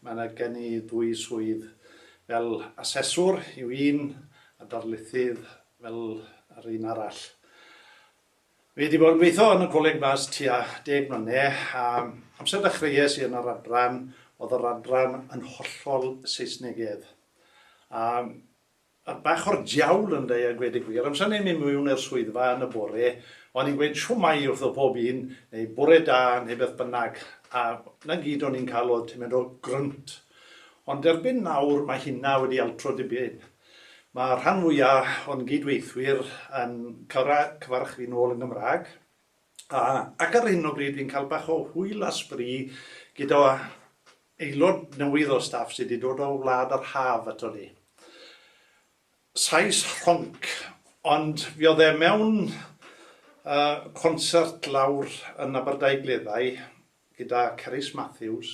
Mae yna gen i ddwy swydd, fel aseswr yw un a darlithydd fel yr un arall. Fi wedi bod yn gweithio yn y Coleg Mas tua deg mlynedd a amser ddechreuais i yn yr adran oedd yr adran yn hollol Saesnegedd a Mae bach o'r diawl yn dda a gweud y gwir. Amser ni'n mynd miwn i'r swyddfa yn y bore, o'n i'n gweud shwmae wrtho pob un, neu bore da, neu beth bynnag, a 'na gyd o'n i'n cael oedd tymed o grynt. Ond erbyn nawr mae hynna wedi altro dipyn. Mae rhan fwya o'n gyd-weithwyr yn cyfarch fi'n ôl yn Gymraeg. A, ac ar hyn o bryd fi'n cael bach o hwyl a sbri gyda aelod newydd o staff sydd wedi dod o wlad yr haf ato ni. Sais rhonc, ond fi oedd e mewn uh, concert lawr yn Aberdai Gleddau gyda Cerys Matthews.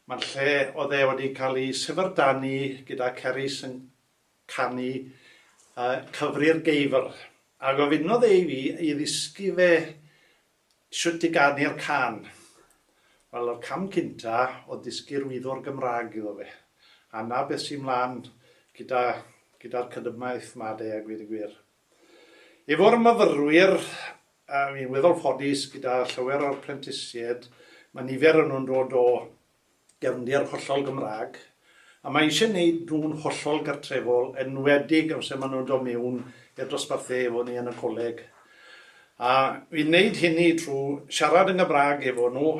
Mae'n lle oedd e wedi cael ei syfrdanu gyda Cerys yn canu a cyfri'r geifr, a gofynnodd e i fi i ddysgu fe shwt i ganu'r cân. Wel, yr cam cynta o'dd dysgu'r wyddor Gymrâg iddo fe, a 'na beth sy' 'mlan gyda gyda'r cydymaith 'ma de, a gweud y gwir. Efo'r myfyrwyr, a fi'n weddol ffodus gyda llawer o'r prentisied, ma' nifer o nhw'n dod o gefndir hollol Gymraeg, a mae eisiau neud nhw'n hollol gartrefol, enwedig amser maen nhw'n dod mewn i'r dosbarthu efo ni yn y coleg. A fi'n neud hynny trwy siarad yn Gymraeg efo nhw,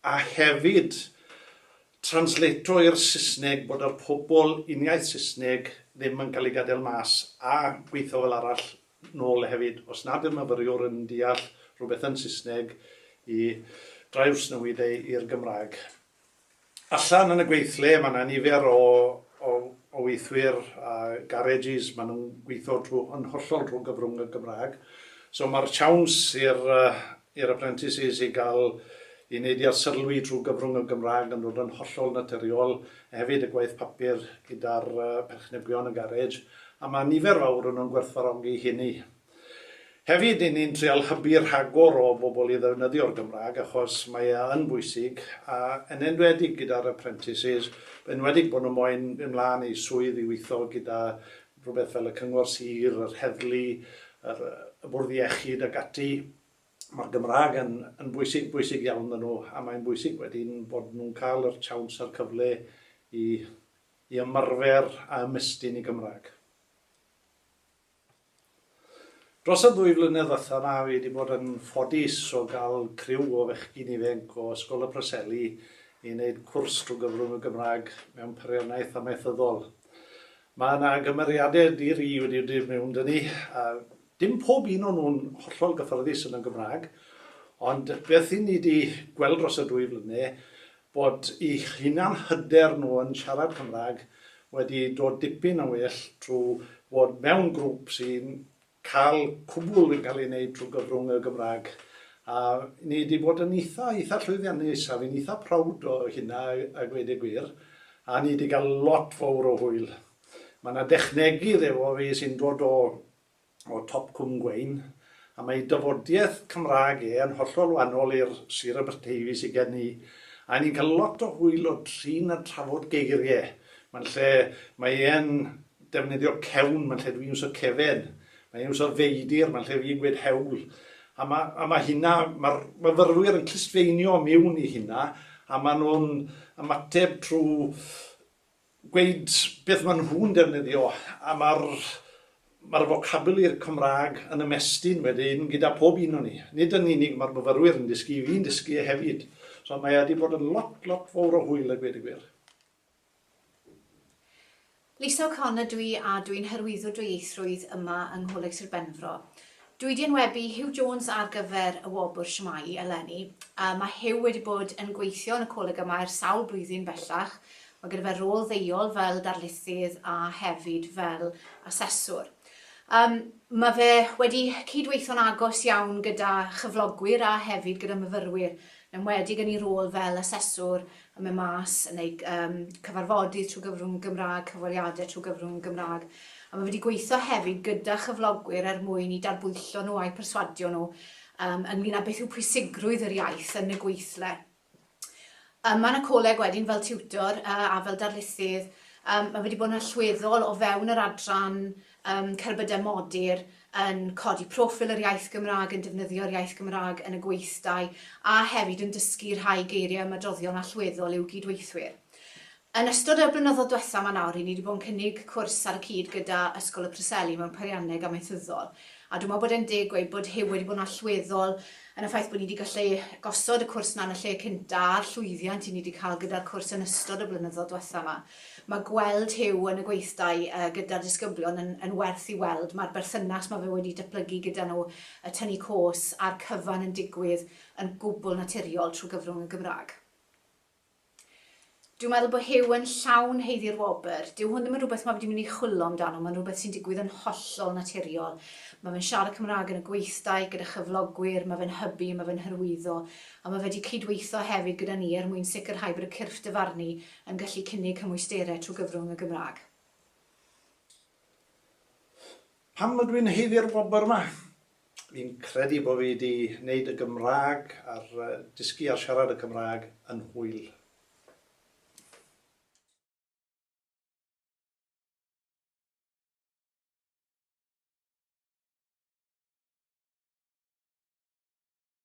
a hefyd translato i'r Saesneg bod yr pobl uniaith Saesneg ddim yn cael ei gadael mas, a gweithio fel arall nôl hefyd, os nad yw'r myfyriwr yn deall rhywbeth yn Saesneg, i drawsnewid e i'r Gymraeg. Allan yn y gweithle, mae yna nifer o, o, o weithwyr a garages, maen nhw'n gweithio trwy, yn hollol trwy gyfrwng y Gymraeg. So mae'r siawns i'r uh, i'r apprentices i gael i wneud i arsylwi trwy gyfrwng y Gymraeg yn dod yn hollol naturiol, a hefyd y gwaith papur gyda'r perchnebion y garej, a mae nifer fawr yn nhw'n gwerthfawrogi hynny. Hefyd, i ni'n trial hybu rhagor o bobl i ddefnyddio'r Gymraeg achos mae e yn bwysig, a yn enwedig gyda'r apprentices, yn enwedig bod nhw moyn mynd mlaen i swydd i weithio gyda rhywbeth fel y Cyngor Sir, yr Heddlu, yr, y Bwrdd Iechyd ac ati, mae'r Gymraeg yn, yn bwysig, bwysig iawn maen nhw, a mae'n bwysig wedyn bod nhw'n cael yr siawns a'r cyfle i, i ymarfer a ymestyn i Gymraeg. Dros y ddwy flynedd ddiwetha' 'ma fi 'di bod yn ffodus o ga'l criw o fechgyn ifenc o Ysgol y Preseli i neud cwrs trw gyfrwng y Gymrag mewn peiriannaeth amaethyddol. Ma' 'na gymeriade di-ri wedi dod mewn 'da ni a dim pob un o nhw'n hollol gyffyrddus yn y Gymrag ond beth 'yn ni 'di gweld dros y dwy flyne bod eu hunan hyder nhw yn siarad Cymraeg wedi dod dipyn yn well trwy fod mewn grwp sy'n cael cwbl yn cael ei wneud trwy gyfrwng y Gymraeg a ni wedi bod yn eitha, eitha llwyddiannus a fi'n eitha proud o hynna a gweud y gwir a ni wedi cael lot fawr o hwyl. Mae yna dechnegydd efo fi sy'n dod o o Top Cwm Gweun, a mae dafodiaith Cymraeg e yn hollol wahanol i'r Sir Aberteifi sy gen i, a ni'n cael lot o hwyl o drin a trafod geiriau. Mae'n lle, mae e'n defnyddio cewn, mae'n lle dwi'n iwso cefen, mae e'n iwso feidir, mae'n lle fi'n gweud hewl, a ma', a ma' hynna, ma'r myfyrwyr yn clustfeinio miwn i hynna, a maen nhw'n ymateb trwy gweud beth maen nhw'n defnyddio a mae'r mae'r focabuli'r Cymraeg yn ymestyn wedyn gyda pob un o'n ni. Nid yn unig mae'r myfyrwyr yn dysgu, fi'n dysgu e hefyd. So mae e wedi bod yn lot, lot fawr o hwyl a gweud y gwir. Lisa O'Connor dw i a dw i'n hyrwyddo dwyieithrwydd yma yng Ngholeg Sir Benfro. Dw i 'di enwebu Huw Jones ar gyfer y wobr Shwmae eleni. Mae Huw wedi bod yn gweithio yn y coleg yma ers sawl blwyddyn bellach, mae gyda fe rôl ddeuol fel darlithydd a hefyd fel aseswr. Um, mae fe wedi cydweithio'n agos iawn gyda chyflogwyr a hefyd gyda myfyrwyr, yn enwedig yn ei rôl fel aseswr yn mynd mas, yn eu cyfarfodydd trwy gyfrwng y Gymraeg, cyfweliadau trwy gyfrwng y Gymraeg, a mae wedi gweithio hefyd gyda chyflogwyr er mwyn i darbwyllo nhw a'u perswadio nhw ynglŷn â beth yw pwysigrwydd yr iaith yn y gweithle. Ym Mân y Coleg wedyn fel tiwtor a fel darlithydd, mae wedi bod yn allweddol o fewn yr adran Ym cerbydau modur, yn codi proffil yr iaith Gymraeg, yn defnyddio'r iaith Gymraeg yn y gweithdai, a hefyd yn dysgu rhai geiriau ymadroddion allweddol i'w gyd-weithwyr. Yn ystod y blynyddoedd dwetha ma nawr, ry'n ni wedi bod yn cynnig cwrs ar y cyd gyda Ysgol y Preseli mewn Peirianneg Amaethyddol, a dwi me'wl bod e'n deg gweud bod Huw wedi bod yn allweddol yn y ffaith bod ni wedi gallu gosod y cwrs 'na yn y lle cynta, a'r llwyddiant 'yn ni wedi cael gyda'r cwrs yn ystod y blynyddoedd dwetha 'ma. Mae gweld Huw yn y gweithdai gyda'r disgyblion yn yn werth i weld, mae'r berthynas mae fe wedi datblygu gyda nhw, y tynnu cos a'r cyfan yn digwydd yn gwbl naturiol trwy gyfrwng y Gymraeg. Dwi'n meddwl bod Huw yn llawn haeddu'r wobr. Dyw hwn ddim yn rhywbeth mae fe wedi mynd i chwillo amdano, mae'n rhywbeth sy'n digwydd yn hollol naturiol. Mae fe'n siarad Cymraeg yn y gweithdai gyda chyflogwyr, mae fe'n hybu, mae fe'n hyrwyddo, a mae fe wedi cydweithio hefyd gyda ni er mwyn sicrhau bod y cyrff dyfarnu yn gallu cynnig cymwysterau trwy gyfrwng y Gymraeg. Pam ydw i'n haeddu'r wobr yma? Fi'n credu bod fi wedi gwneud y Gymraeg a'r dysgu a siarad y Cymraeg yn hwyl.